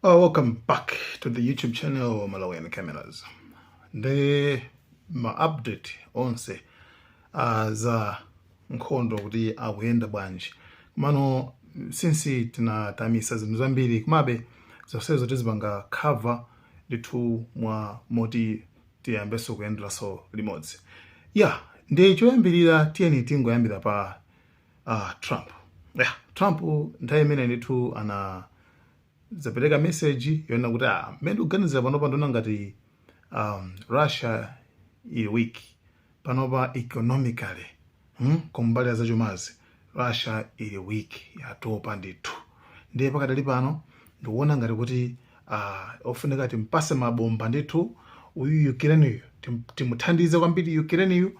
Oh, welcome back to the YouTube channel Malawian Cameras. Ndi ma update onse uh, za nkhondo kuti akuyenda bwanji. Komano since tinamisa zinthu zambiri komabe zonsezo tizipanga cover ndithu mwa moti tiyambenso kuyenderanso limodzi. Ya, ndi choyambirira tiyeni tingoyambira pa Ah, Trump. Yeah, Trump nthawi imene ndithu anazapereka message yonena kuti ah, mmene ndikuganizira panopa ndikuona ngati um, Russia ili weak panopa economically hmm? kumbali ya zachumazi Russia ili weak yatopa ndithu ndiye pakadali pano ndikuona ngati kuti ah, ofunika timpase mabomba ndithu uyu Ukraine uyu tim- timuthandize kwambiri Ukraine uyu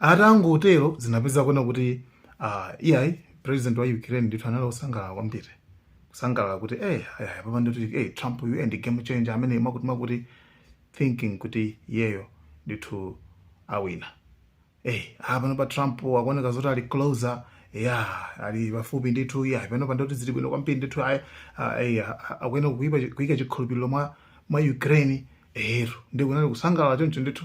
Atangotero zinapeza kuona kuti ah, iyayi president wa Ukraine ndithu anali osangalala kwambiri kusangalala kuti eh ayaya papa ndithu eh Trump uyu eh, ndi game changer amene amakuti amakuti thinking kuti iyeyo ndithu awina eh ah pano pa Trump akuoneka zoti ali closer ya ali pafupi ndithu ya pano pa ndoti zili bwino kwambiri ndithu ayi ayi akuyenera kuika kuika chikhulupiriro mwa mwa Ukraine eh nde kunali kusangalala choncho ndithu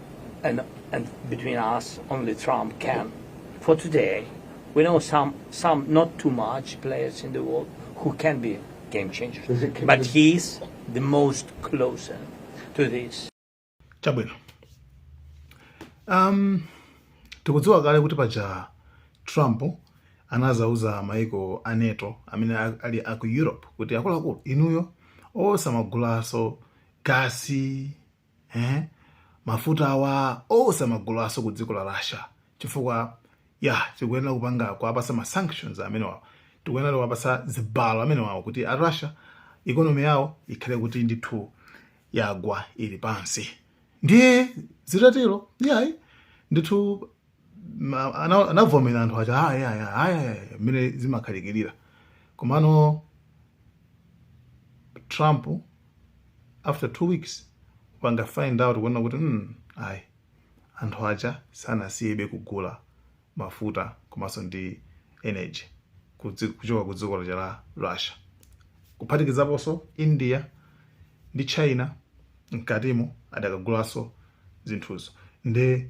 And, and between us, only Trump can. For today, we know some, some not too much players in the world who can be game changers. But he's the most closer to this. chabwino um, tikudziwa kale kuti paja trump anazauza maiko a nato amene a- ali aku europe kuti akuluakulu inuyo osamagulaso gasi eh? mafuta awa osamagulaso ku dziko la Russia chifukwa ya tikuyenera kupanga kuwapasa ma sanctions amenewawo tikuyenera kuwapasa zibalo amenewawo kuti a Russia economy yawo ikhale kuti ndithu yagwa ili pansi ndiye zitatero yayi ndithu ma- ana- anavomera anthu aja "Ah, yeah, yeah, ah, yeah, yeah," mmene zimakhalikirira komano Trump after two weeks wapanga find out kuona kuti mm, ayi anthu aja sanasiyebe kugula mafuta komanso ndi energy kudzi- kuchoka ku dziko lija la Russia kuphatikizaponso India ndi China mkatimo adakagulanso zinthuzo nde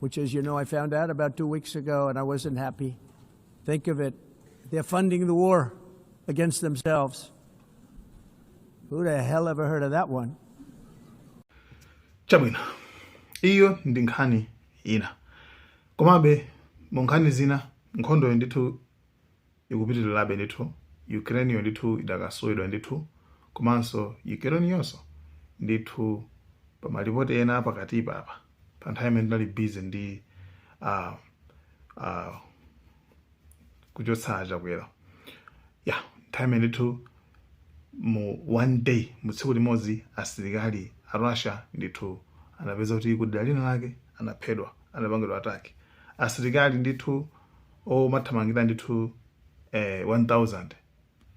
which, as you know, I found out about two weeks ago and I wasn't happy. Think of it. They're funding the war against themselves. Who the hell ever heard of that one? Chabwino. Iyo ndi nkhani ina. Komabe mu nkhani zina nkhondo ndithu ikupitirirabe ndithu Ukrainiyo ndithu idakaswedwa ndithu komanso Ukrainiyonso ndithu pa malipoti ena apakatipa pa pa nthawi imene tinali busy ndi uh, uh, kuchotsa Chakwera ya nthawi imene ndithu mu one day mu tsiku limodzi asilikali a Russia ndithu anapeza kuti kudera lina lake anaphedwa anapangidwa attack asilikali ndithu omathamangira ndithu eh, 1000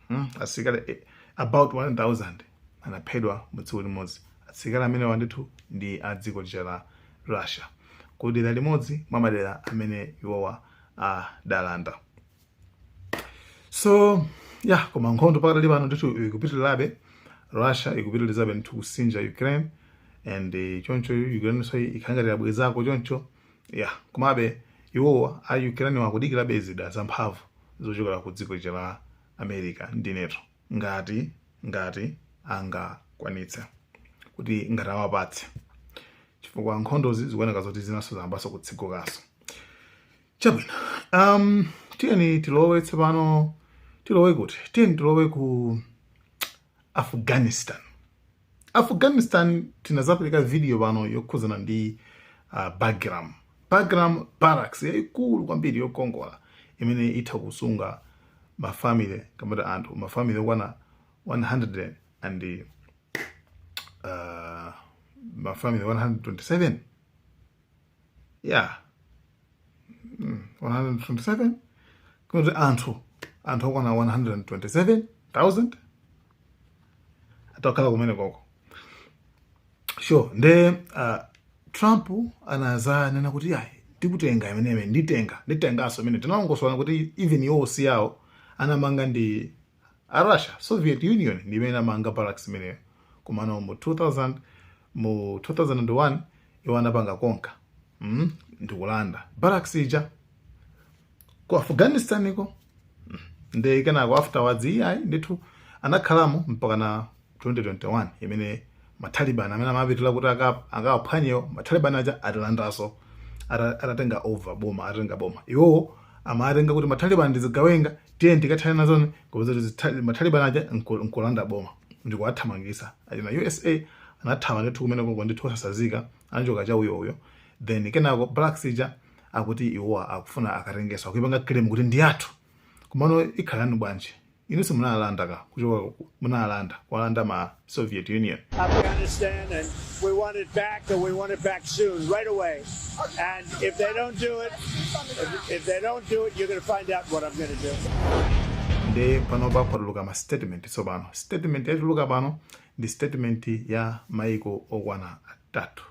hmm? asilikali eh, about 1000 anaphedwa mu tsiku limodzi asilikali amenewa ndithu ndi a dziko lija la russia ku dera limodzi mwa madera amene iwowa adalanda so ya koma nkhondo pakadali pano ndithu ikupitirirabe russia ikupitirizabe ndithu kusinja ukraine and eh, choncho ukraine so ikungotibwezako choncho ya komabe iwowa a Ukraine akudikirabe zida zamphamvu zochokera ku dziko lija la America ndi NATO ngati ngati angakwanitse kuti ngati awapatse chifukwa nkhondozi zikuoneka zoti zinanso zayambanso kutsegukanso chabwino um, tiyeni tilowe tsopano tilowe kuti tiyeni tilowe ku afghanistan afghanistan tinazapereka video pano yokhuzana ndi uh, bagram bagram barracks yayikulu kwambiri yokongola imene itha kusunga mafamily kaya anthu mafamily okwana 100 and uh, mafamily 127 ya mm, 127 kuti anthu anthu okwana 127000 atha kukhala kumeneko sure nde uh, trump anazanena kuti ayi ndikutenga imeneyi nditenga nditenganso imene tinalongosola kuti even iwo si iwo anamanga ndi a russia soviet union ndi imene inamanga barracks imeneyo komano mu 2000 mu 2001 iwo anapanga conquer mm? ndikulanda barracks ija ku afghanistan-ko nde kenako afterwards iyayi ndithu anakhalamo mpakana 2021 imene ma Taliban amene amapitira kuti akawaphwanyewo ma Taliban aja atalandanso atatenga over boma atatenga boma iwowo amatenga kuti ma Taliban ndi zigawenga tiye tikathana nazo nde kupeza kuti ma Taliban aja nkulanda boma ndikuwathamangisa achina USA anathawa ndithu kumene koko ndithu osatsazika anachoka cha uyo uyo then kenako barracks ija akuti iwowa akufuna akatengenso akuyipanga claim kuti ndi yathu komano ikhala yanu bwanji Inunso munalanda ka kuchoka ku munalanda kuwalanda ma Soviet Union. Afghanistan and we want it back and we want it back soon, right away. And if they don't do it, if, if they don't do it, you're going to find out what I'm going to do. Nde panopa kwatuluka ma statement tsopano. Statement yatuluka pano ndi statement ya maiko okwana atatu.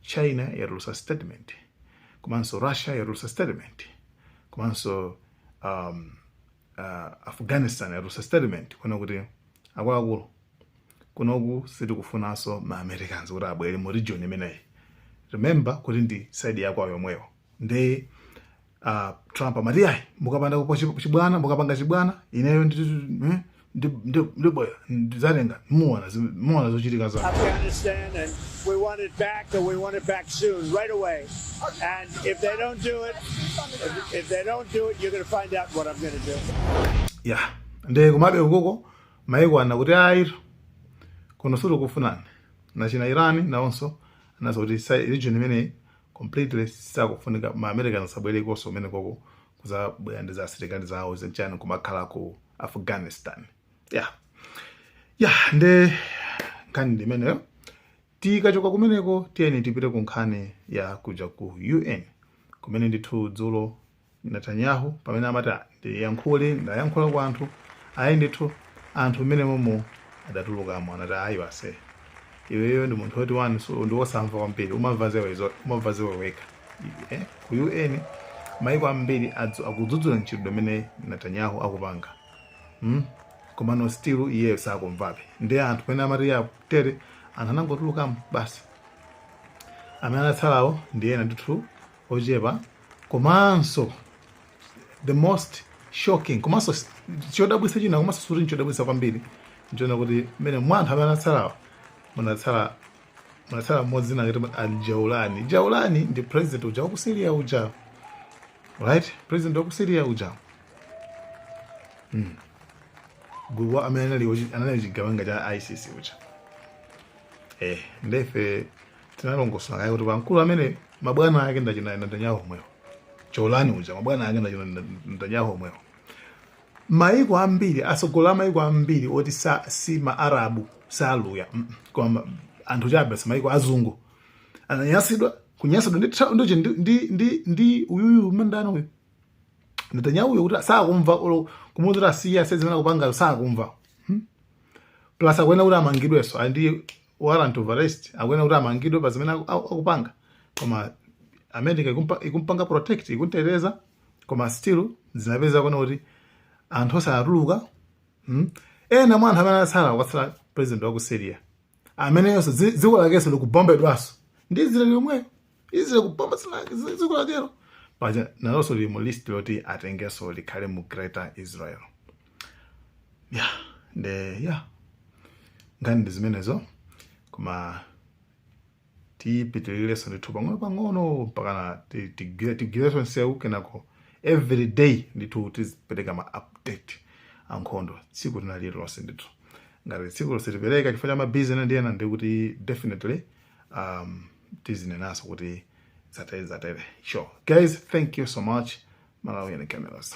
China yatulutsa statement. Komanso Russia yatulutsa statement. Komanso um, uh, afghanistan yatulutsa statement kunena kuti akuluakulu kunoku sitikufunanso ma americans kuti abwere mu region imeneyi remember kuti ndi side yakwawo yomweyo nde uh, trump amati ayi mukapanda kupo chi- chibwana mukapanga chibwana ineyo ndi- ndi- ndi- ndibwera ndidzatenga muona zi- muona zochitika zake Afghanistan, and we want it back, and we want it back soon, right away. And if they don't do it, if, if they don't do it, you're going to find out what I'm going to do. ya nde komabe ukoko maiko ana kuti ayi kuno sitikufunani na china iran nawonso anaza kuti sa- region imeneyi completely sakufunika ma american asabwerekonso kumeneko kuzabwera ndi za asilikali zawo zenchani kumakhala ku afghanistan ya ya nde nkhani ndimeneyo tikachoka kumeneko tiyeni tipite ku nkhani ya kuja ku un kumene ndithu dzulo netanyahu pamene amati Ah, ndiyankhule ndayankhula kwa anthu ayi ndithu anthu mmene momo adatulukamo anati ayi basi iweyo ndi munthu woti wani ndiwe wosamva kwambiri umamva za iwe zo- umamva za iwe wekha eh, ku un maiko ambiri adzu- akudzudzula ntchito imene netanyahu akupanga mm? komano still iyeyo sakumvabe nde anthu pamene amati ya tere anthu anangotulukamo basi amene anatsalawo ndi ena ndithu ochepa komanso the most shocking komanso s- chodabwitsa china komanso suti nchodabwitsa kwambiri nchonena kuti mmene mwa anthu amene anatsalawo munatsala munatsala mmodzi dzina kuti aljaulani jaulani ndi president uja waku syria uja right president waku syria uja hmm. mkulu amene anali anali chigawenga cha ISIS uja eh nde ife tinalongosola kaye kuti pa mkulu amene mabwana ake ndachina Netanyahu omwewo jaulani uja mabwana ake ndachina Netanyahu omwewo maiko ambiri atsogoleri a maiko ambiri oti sa, si maarabu saluya mm, koma anthu chabe maiko azungu ananyasidwa kunyasidwa ndi ndi ndi ndi uyuyu mdala uyu Netanyahu uyu kuti sakumva olo kumuuza kuti asiye asiye zimene akupangazo sakumva hmm? plus akuyenera kuti amangidwenso ali ndi warrant of arrest akuyenera kuti amangidwe pa zimene aku- aku- akupanga koma america ikumpa- ikumpanga protect ikumteteza koma still zinapeza kunena kuti anthu osatuluka hmm? ena mwa anthu amene atsala kwatsala president wa ku syria ameneyonso dzi- dziko lakenso likubombedwanso ndi israel yomweyo Israel kubomba dziko la Cairo. Paja nalonso lili mu list loti atengenso likhale mu Greater Israel. Yeah, de yeah. Nkhani ndi zimenezo koma tipitirirenso ndithu pang'ono pang'ono mpakana tigwire tigwirenso nsewu kenako every day ndithu tizipereka ma update a nkhondo tsiku lina lililonse ndithu ngati tsiku lo sitipereka chifukwa cha mabizinesi ndi ena ndi kuti definitely um, tizinenaso kuti zatere zatere sure guys thank you so much malawi and cameras